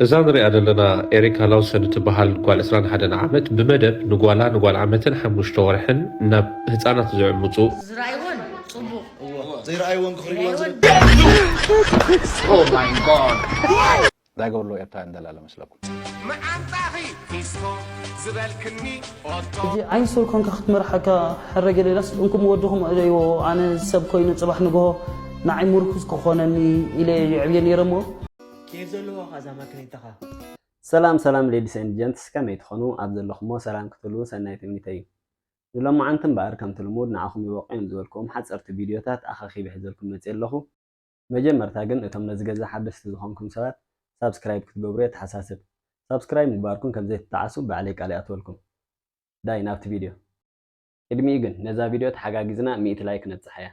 እዛ ንሪኣ ዘለና ኤሪካ ላውሰን እትበሃል ጓል ዕስራን ሓደን ዓመት ብመደብ ንጓላ ንጓል ዓመትን ሓሙሽተ ወርሕን ናብ ህፃናት ዝዕምፁ፣ ዝረኣይዎን ፅቡቕ እዎ ዘይረኣይዎን ክርእይዎን ዝደልዩ። ታይ ገበርለዉ ኤርትራውያን ደላሎ መስለኩም። መዓንጣኺ ፊስቶ ዝበልክኒ ኦቶ። ሕጂ ዓይኒ ስውር ኮንካ ክትመርሓካ ሕረ ገሌላስ እንኩም ወድኩም እለይዎ ኣነ ሰብ ኮይኑ ጽባሕ ንግሆ ንዓይ ምርኩስ ክኾነኒ ኢለ የዕብዮ ነይረ እሞ። ኬፍ ዘለዋ ኸኣ እዛ ማኪኒታኻ። ሰላም ሰላም ሌዲስ ኤንድ ጀንትስ ከመይ ትኾኑ ኣብ ዘለኹሞ ሰላም ክትህልዉ ሰናይ ትምኒተይ እዩ ንሎማዓንቲ እምበኣር ከምቲ ልሙድ ንዓኹም ይበቑዮም ዝበልኩዎም ሓፀርቲ ቪድዮታት ኣኻኺበ ሒዘልኩም መፅየ ኣለኹ መጀመርታ ግን እቶም ነዚ ገዛ ሓደስቲ ዝኾንኩም ሰባት ሳብስክራይብ ክትገብሩ የተሓሳስብ ሳብስክራይብ ምግባርኩም ከምዘይትጠዓሱ ባዕለይ ቃል ይኣትወልኩም ዳይ ናብቲ ቪድዮ ቅድሚኡ ግን ነዛ ቪድዮ ተሓጋጊዝና ሚእቲ ላይክ ነብጽሓያ።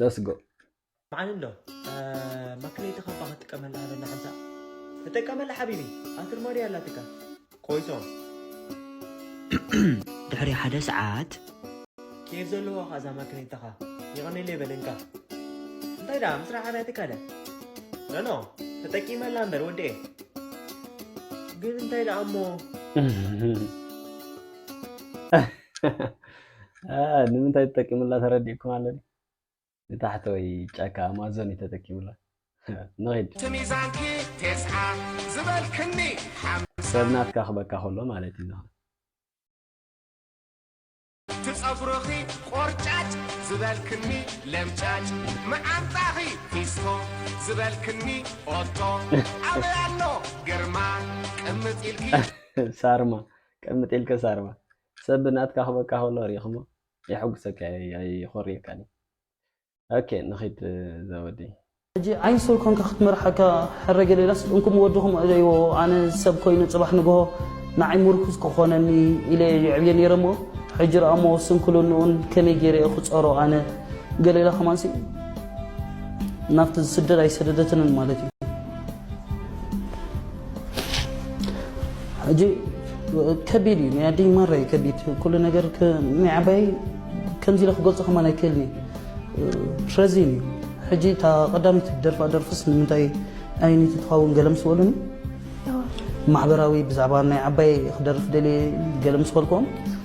Let's go. መዓል ኣሎ ማክለይቲ ካባ ክትጥቀመላ በላ ሓንሳ ተጠቀመላ ሓቢቢ ኣትርማዲ ኣላትካ ኮይቶ ድሕሪ ሓደ ሰዓት። ኬፍ ዘለዋ ኸኣ እዛ ማኪነይታኻ። የቐኔለይ በል እንካ። እንታይ ደኣ ምስራሕ ኣብያ ትካለ። ኖኖ ተጠቂመላ እምበር ወዲኤ። ግን እንታይ ደኣ እሞ። ንምንታይ ተጠቂምላ ተረዲእኩም ኣለኒ። ንታሕተዎይ ጫካ ኣማዞን እዩ ተጠቂሙላ። ንኺድ። እቲ ሚዛንኪ ቴስዓ ዝበልክኒ ሓምሳ። ሰብ ናትካ ክበካ ከሎ ማለት እዩ ዝኸውን። እቲ ጸጉርኺ ቆርጫጭ ዝበልክኒ ለምጫጭ። መዓንጣኺ ፊስቶ ዝበልክኒ ኦቶ። ኣበይ ኣሎ ግርማ ቅምጥ ኢልኪ። ሳርማ ቅምጥ ኢልኪ ሳርማ። ሰብ ናትካ ክበካ ከሎ ርኢኽሞ? የሐጉሰካ እየ ኣይኾርየካን እየ ኦኬ ንኺድ ዘወዲ። ሕጂ ዓይኒ ሰብ ኮንካ ክትመርሓካ ሕረገ ሌላስ እንኩም ወድኹም ዕበይዎ ኣነ ሰብ ኮይኑ ጽባሕ ንግሆ ንዓይ ሙርኩስ ክኾነኒ ኢለ እየ የዕብዮ ኔረ እሞ ሕጂ ርኣሞ ስንክልንኡን ከመይ ጌረ እየ ክጾሮ ኣነ ገሌላ ከማንሲ ናብቲ ዝስደድ ኣይሰደደትንን ማለት እዩ ሕጂ ከቢድ እዩ ናይ ኣደይ ማራ እዩ ከቢድ ኩሉ ነገር ናይ ዓባይ ከምዚ ኢለ ክገልፆ ከማን ኣይክእልን እዩ ረዚን እዩ ሕጂ እታ ቀዳሚት ደርፋ ደርፍስ ንምንታይ ኣይኒቲ ትኸውን ገለ ምስ በሉኒ ማሕበራዊ ብዛዕባ ናይ ዓባይ ክደርፍ ደልየ ገለ ምስ በልክዎም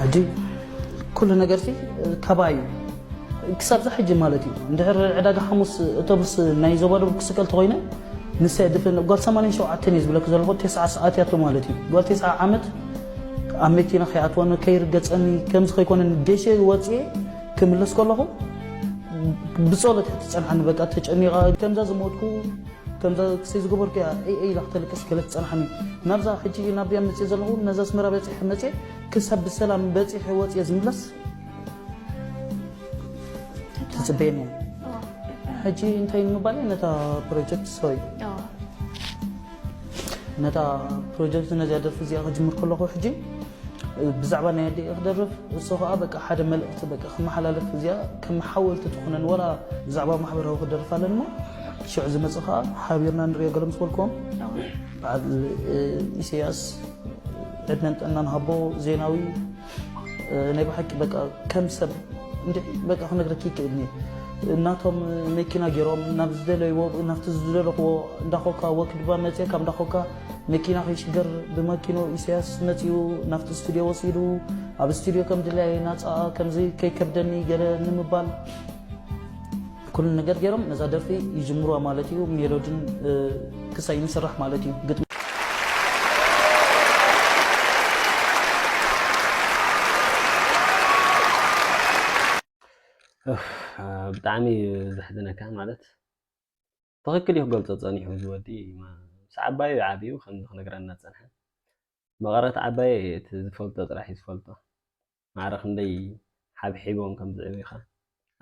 ሕጂ ኩሉ ነገርሲ ካባይ እዩ ክሳብ ዛ ሕጂ ማለት እዩ እንድሕር ዕዳጋ ሓሙስ እቶብስ ናይ ዞባ ደቡብ ክስቀል ተኮይነ ንሰ ድፍን ጓል 87 እዩ ዝብለክ ዘለኹ ቴስዓ ሰዓት ያቶ ማለት እዩ ጓል ቴስዓ ዓመት ኣብ መኪና ከይኣትወኒ ከይርገፀኒ ከምዚ ከይኮነ ደሸ ወፅየ ክምለስ ከለኹ ብፀሎት እያ ትፀንሓኒ በቃ ተጨኒቓ ከምዛ ዝሞትኩ ከምዛ ክሰይ ዝገበርኩ እያ እይ ኢላ ክተልቅስ ገለ ትጸንሓኒ ናብዛ ሕጂ ናብያ መጽየ ዘለኹ ነዛ ኣስመራ በጺሐ መጽየ ክሳብ ብሰላም በጺሐ ወጽየ ዝምለስ ትጽበየኒ እያ ሕጂ እንታይ ንምባል እየ ነታ ፕሮጀክት ሶይ ነታ ፕሮጀክት ነዚያ ደርፊ እዚኣ ክጅምር ከለኹ ሕጂ ብዛዕባ ናይ ኣደይ ክደርፍ እሱ ከኣ በቃ ሓደ መልእክቲ በቃ ክመሓላለፍ እዚኣ ከም ሓወልቲ ትኾነን ወላ ብዛዕባ ማሕበራዊ ክደርፍ ኣለን እሞ ሽዑ ዝመጽእ ከኣ ሓቢርና ንሪኦ ገለ ምስ በልኩም በዓል ኢሰያስ ዕድመን ጥዕናን ሃቦ ዜናዊ ናይ ብሓቂ በቃ ከም ሰብ በቃ ክነግረኪ ይክእልኒ እናቶም መኪና ገይሮም ናብ ዝደለይዎ ናብቲ ዝደለኽዎ እንዳኾካ ወክድባ መፅየ ካብ እንዳኾካ መኪና ከይሽገር ብመኪኑ ኢሰያስ መጺኡ ናብቲ ስቱድዮ ወሲዱ ኣብ ስቱድዮ ከም ድላየ ናጻ ከምዚ ከይከብደኒ ገለ ንምባል ኩሉ ነገር ገይሮም ነዛ ደርፊ ይጅምሩዋ ማለት እዩ ሜሎድን ክሳይ ምስራሕ ማለት እዩ ግጥሚ ብጣዕሚ ዘሕዝነካ ማለት ትኽክል እዩ ክገልጾ ጸኒሑ እዚ ወዲ ምስ ዓባዩ እዩ ዓብዩ ከምዚ ክነግረና ዝጸንሐ መቐረት ዓባየ እየ እቲ ዝፈልጦ ጥራሕ እዩ ዝፈልጦ ማዕረ ክንደይ ሓብሒቦም ከም ዝዕብዩ ከ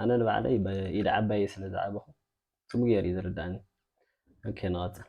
ኣነ ንባዕለይ ብኢድ ዓባየይ ስለ ዝዓበኹ ጽቡቅ ጌሩ እዩ ዝርድኣኒ ኦኬ ንቐጽል።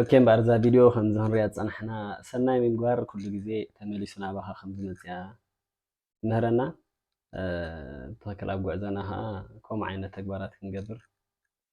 ኦኬ እምበኣር እዛ ቪድዮ ከምዚ ክንሪኣ ዝፀናሕና ሰናይ ምግባር ኩሉ ግዜ ተመሊሱ ናባኻ ከም ዝመፅያ ትምህረና ብትኽክል ኣብ ጉዕዞና ከዓ ከምኡ ዓይነት ተግባራት ክንገብር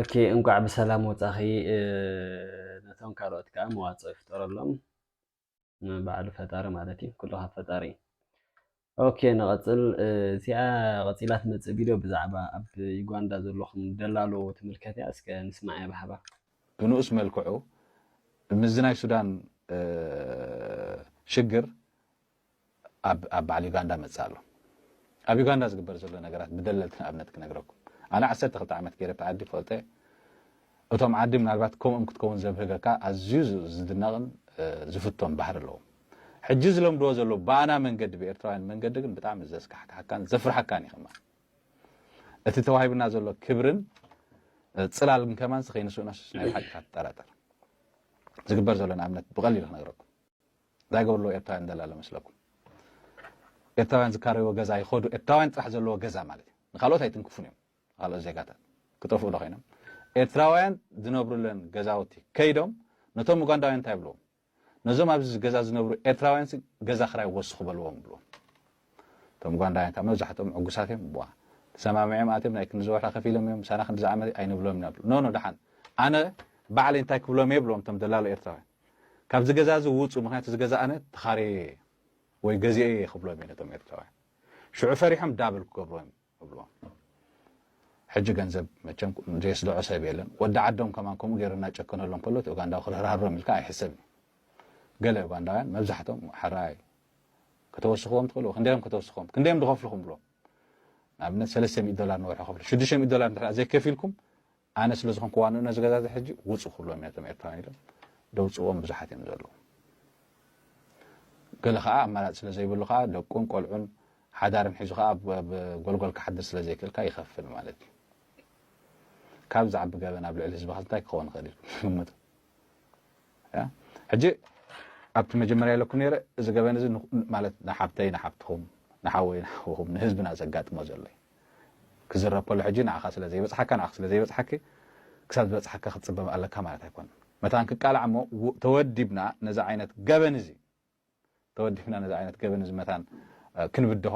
ኦኬ እንኳዕ ብሰላም ወፃኺ ነቶም ካልኦት ከዓ መዋፅኦ ይፍጠረሎም ባዕሉ ፈጣሪ ማለት እዩ ኩሉ ካብ ፈጣሪ ኦኬ ንቐፅል እዚኣ ቐፂላ ትመፅእ ቪድዮ ብዛዕባ ኣብ ዩጋንዳ ዘለኹም ደላሎ ትምልከት እያ እስከ ንስማዕ እያ ብሓባር ብንኡስ መልክዑ ምስዚ ናይ ሱዳን ሽግር ኣብ ኣብ በዓል ዩጋንዳ መጽእ ኣሎ ኣብ ዩጋንዳ ዝግበር ዘሎ ነገራት ብደለልቲ ንኣብነት ክነግረኩም ኣነ ዓሰርተ ክልተ ዓመት ገይረ እቲ ዓዲ ፈልጦ እየ እቶም ዓዲ ምናልባት ከምኡም ክትከውን ዘብህገካ ኣዝዩ ዝድነቕን ዝፍቶን ባህሪ ኣለዎም ሕጂ ዝለምድዎ ዘሎ ብኣና መንገዲ ብኤርትራውያን መንገዲ ግን ብጣዕሚ ዘስካሕካሓካን ዘፍርሓካን እዩ ከማን እቲ ተዋሂብና ዘሎ ክብርን ፅላል ግን ከማን ከይንስእኖስ ናይ ብሓቂ ትጠራጠር ዝግበር ዘሎ ንኣብነት ብቐሊሉ ክነግረኩም እንታይ ገበሩ ኣለዉ ኤርትራውያን ደላሎ መስለኩም ኤርትራውያን ዝካረይዎ ገዛ ይኸዱ ኤርትራውያን ጥራሕ ዘለዎ ገዛ ማለት እዩ ንካልኦት ኣይትንክፉን እዮም ካልኦት ዜጋታት ክጠፍኡ ዶ ኮይኖም ኤርትራውያን ዝነብሩለን ገዛውቲ ከይዶም ነቶም ኡጋንዳውያን እንታይ ብልዎም ነዞም ኣብዚ ገዛ ዝነብሩ ኤርትራውያን ገዛ ክራይ ወስኹ በልዎም ብልዎም እቶም ኡጋንዳውያን ካብ መብዛሕትኦም ዕጉሳት እዮም ዋ ተሰማሚዖም ኣትዮም ናይ ክንዲ ዝወርሒ ከፊሎም እዮም ምሳና ክንዲ ዝዓመት ኣይንብሎም ኢና ብሉ ኖ ኖ ደሓን ኣነ ባዕለይ እንታይ ክብሎም እየ ብልዎም እቶም ደላሎ ኤርትራውያን ካብዚ ገዛ እዚ ውጹ ምክንያቱ እዚ ገዛ ኣነ ተኻርየዮ እየ ወይ ገዚኤዮ እየ ክብሎም እየ ነቶም ኤርትራውያን ሽዑ ፈሪሖም ዳብል ክገብሩ እዮም እብልዎም ሕጂ ገንዘብ መቸም ዘየስደዖ ሰብ የለን ወዲ ዓዶም ከማን ከምኡ ገይሩ እናጨከነሎም ከሎ እቲ ኡጋንዳዊ ክርህርሃሮም ኢልካ ኣይሕሰብን እዩ ገለ ኡጋንዳውያን መብዛሕቶም ሓራይ ከተወስኽዎም ትኽእሉ ክንደዮም ከተወስኽዎም ክንደዮም ዝኸፍልኹም ብሎ ንኣብነት ሰለስተ ሚእቲ ዶላር ንወርሒ ከፍሉ ሽዱሽተ ሚእቲ ዶላር እንድሕር ዘይከፊልኩም ኣነ ስለ ዝኾንኩ ዋንኡ ነዚ ገዛ እዚ ሕጂ ውጹ ክብሎም እየ እቶም ኤርትራውያን ኢሎም ደውጽዎም ብዙሓት እዮም ዘለዉ ገለ ከዓ ኣማራጺ ስለ ዘይብሉ ከዓ ደቁን ቆልዑን ሓዳርን ሒዙ ከዓ ኣብ ጎልጎል ክሓድር ስለ ዘይክእልካ ይኸፍል ማለት እዩ ካብ ዝዓቢ ገበን ኣብ ልዕሊ ህዝብኻ እንታይ ክኸውን ይኽእል ኢልኩም ትግምቱ ሕጂ ኣብቲ መጀመርያ ኢለኩም ነረ እዚ ገበን እዚ ማለት ንሓብተይ ንሓብትኹም ንሓወይ ንሓውኹም ንህዝብና ዘጋጥሞ ዘሎ እዩ ክዝረብ ከሎ ሕጂ ንዓኻ ስለ ዘይበጽሓካ ንዓኺ ስለ ዘይበጽሓኪ ክሳብ ዝበጽሓካ ክትጽበ ኣለካ ማለት ኣይኮነን። መታን ክቃላዕ እሞ ተወዲብና ነዚ ዓይነት ገበን እዚ ተወዲብና ነዚ ዓይነት ገበን እዚ መታን ክንብድሆ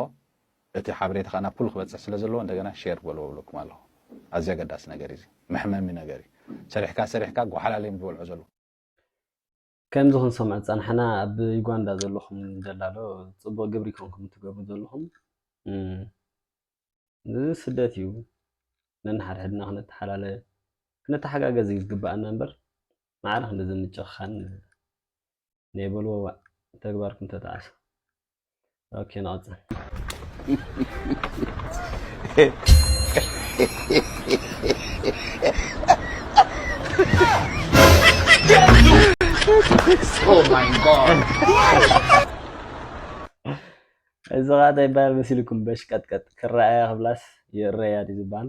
እቲ ሓበሬታ ከኣ ናብ ኩሉ ክበጽሕ ስለ ዘለዎ እንደገና ሼር በልዎ ብለኩም ኣለኹ። ኣዝዩ ኣገዳሲ ነገር እዩ እዚ መሕመሚ ነገር እዩ ሰሪሕካ ሰሪሕካ ጓሓላለ እዮም ዝበልዑ ዘለዉ። ከምዚ ክንሰምዖ ዝጸናሕና ኣብ ዩጋንዳ ዘለኹም ደላሎ ጽቡቕ ግብሪ ኮንኩም ትገብሩ ዘለኹም እዚ ስደት እዩ ነንሓድሕድና ክንተሓላለ ክንተሓጋገዝ እዩ ዝግባኣና እምበር ማዕረ ክንዲ ዝምጭኽኻን ናይ በልዎ ዋእ ተግባርኩም ተጣዕሱ። ኦኬ ንቐጽል እዚ ኸኣ እንታይ ይበሃል መሲልኩም በሽቀጥቀጥ ክረኣያ ክብላስ ይእረያ ድዩ ዝበሃል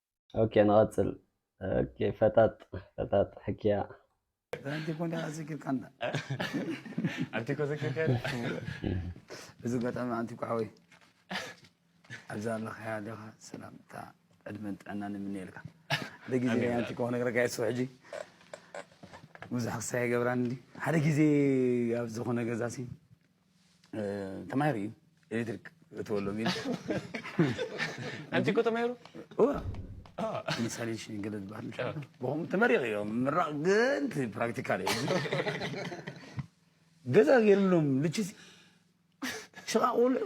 ኦኬ ንቐፅል ኦኬ ፈጣጥ ፈጣጥ ሕክያ ኣንቲ ኮንዳ ኣዘኪርካ እንዳ ኣንቲ ኮ ዘኪርካ እዚ ገጣሚ ኣንቲ ኮ ሓወይ ኣብዛ ኣለኻያ ኣለኻ ሰላምታ ዕድመን ጥዕና ንምነየልካ ሓደ ግዜ ኣንቲ ኮ ክነግረካ እየ ስብ ሕጂ ብዙሕ ክሳይ ይገብራን እንዲ ሓደ ግዜ ኣብ ዝኾነ ገዛሲ ተማሂሩ እዩ ኤሌክትሪክ እትወሎም ኢሉ ኣንቲ እኮ ተማሂሩ ኢንስታሌሽን ገለ ዝበሃል ብኹም ተመሪቕ እዮም ምራቕ ግን ፕራክቲካል እዩ ገዛ ገይርሎም ልችሲ ሽቓቕ ቆልዑ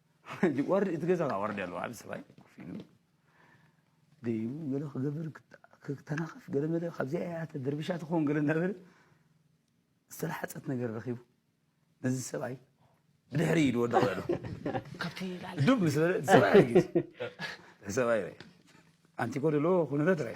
እቲ ገዛ ከዋርድ ኣለዎ ዓብ ሰብኣይ ኮፍ ኢሉ ደይቡ ገለ ክገብር ክተናኸፍ ገለ መለ ካብዚኣ እያ ተደርቢሻ ትኸውን ገለ እናበለ ዝተላሓፀት ነገር ረኺቡ ነዚ ሰብኣይ ብድሕሪ ኢድ ወደቕ በሉ ካብቲ ዱብ ምስ በለ ሰብኣይ ሰብኣይ ኣንቲ ኮ ደሎ ኩነታት ራይ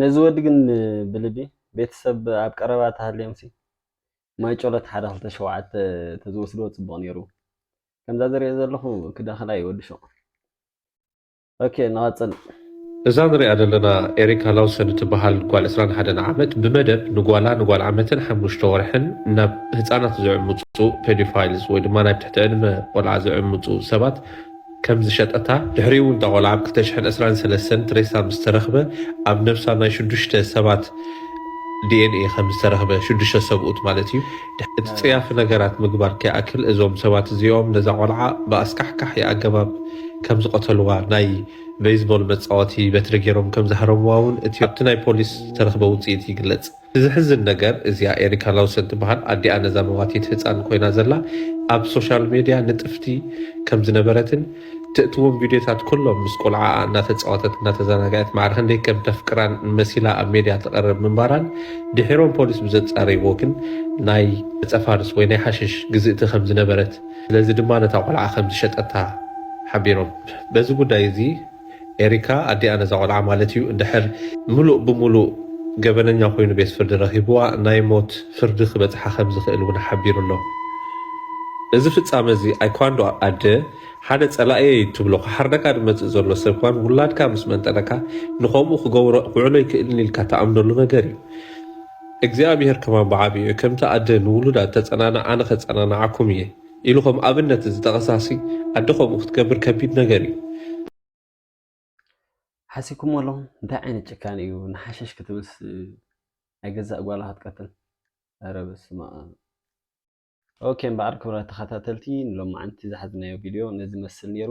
ነዚ ወዲ ግን ብልቢ ቤተሰብ ኣብ ቀረባ ተሃልዮምሲ ማይጨሎት ሓደ ክልተ ሸውዓተ ተዝወስድዎ ጽቡቕ ነይሩ ከምዛ ዝሪኦ ዘለኹ ክደኸላ እዩ ወዲ ሹቕ ኦኬ ንቐጽል እዛ ንሪኣ ዘለና ኤሪካ ላውሰን እትበሃል ጓል ዕስራን ሓደን ዓመት ብመደብ ንጓላ ንጓል ዓመትን ሓሙሽተ ወርሕን ናብ ህፃናት ዝዕምፁ ፔዶፋይልስ ወይ ድማ ናይ ትሕቲ ዕድመ ቆልዓ ዝዕምፁ ሰባት ከም ዝሸጠታ፣ ድሕሪኡ'ውን እታ ቆልዓ ኣብ ክልተ ሽሕን ዕስራን ሰለስተን ሬሳ ምስ ተረኽበ፣ ኣብ ነብሳ ናይ ሽዱሽተ ሰባት ዲኤንኤ ከም ዝተረኽበ፣ ሽዱሽተ ሰብኡት ማለት እዩ። እቲ ጸያፊ ነገራት ምግባር ከይኣክል፣ እዞም ሰባት እዚኦም ነዛ ቆልዓ ብኣስካሕካሒ ኣገባብ ከም ዝቐተሉዋ፣ ናይ በይዝቦል መጻወቲ በትሪ ገይሮም ከም ዝሃረሙዋ'ውን እቲ ኣብቲ ናይ ፖሊስ ዝተረኽበ ውጽኢት ይግለጽ። ዝሕዝን ነገር እዚኣ ኤሪካ ላውሰን ትበሃል ኣዲኣ ነዛ መዋቲት ህጻን ኮይና ዘላ ኣብ ሶሻል ሜድያ ንጥፍቲ ከም ዝነበረትን ትእትዎም ቪድዮታት ኩሎም ምስ ቆልዓኣ እናተጻወተት እናተዘናገዐት ማዕረ ክንደይ ከም ተፍቅራን መሲላ ኣብ ሜድያ ትቐርብ ምንባራን ድሒሮም ፖሊስ ብዘጻረይዎ ግን ናይ ዕጸፋርስ ወይ ናይ ሓሽሽ ግዝእቲ ከም ዝነበረት ስለዚ ድማ ነታ ቆልዓ ከም ዝሸጠታ ሓቢሮም በዚ ጉዳይ እዚ ኤሪካ ኣዲኣ ነዛ ቆልዓ ማለት እዩ እንድሕር ምሉእ ብምሉእ ገበነኛ ኮይኑ ቤት ፍርዲ ረኺብዋ ናይ ሞት ፍርዲ ክበጽሓ ከም ዝኽእል እውን ሓቢሩ ኣሎ። እዚ ፍጻመ እዚ ኣይኳንዶ ኣደ ሓደ ጸላኢየይ እትብሎ ክሓርደካ ዝመጽእ ዘሎ ሰብ እኳን ውላድካ ምስ መንጠለካ ንኸምኡ ክገብሮ ክውዕሎ ይክእልን ኢልካ ትኣምነሉ ነገር እዩ። እግዚኣብሄር ከማን ብዓቢኡ ከምቲ ኣደ ንውሉዳ እተጸናንዕ ኣነ ከጸናንዓኩም እየ። ኢሉ ከም ኣብነት ዝጠቐሳሲ ኣደ ከምኡ ክትገብር ከቢድ ነገር እዩ። ሓሲብኩሞ ኣለኹም እንታይ ዓይነት ጭካነ እዩ ንሓሸሽ ክትብልስ ናይ ገዛእ ጓላ ክትቀትል ኧረ በስመኣም። ኦኬ እምበኣር ክብራት ተኸታተልቲ ንሎምዓንቲ ዝሓዝናዮ ቪድዮ ነዚ ዝመስል ኔሩ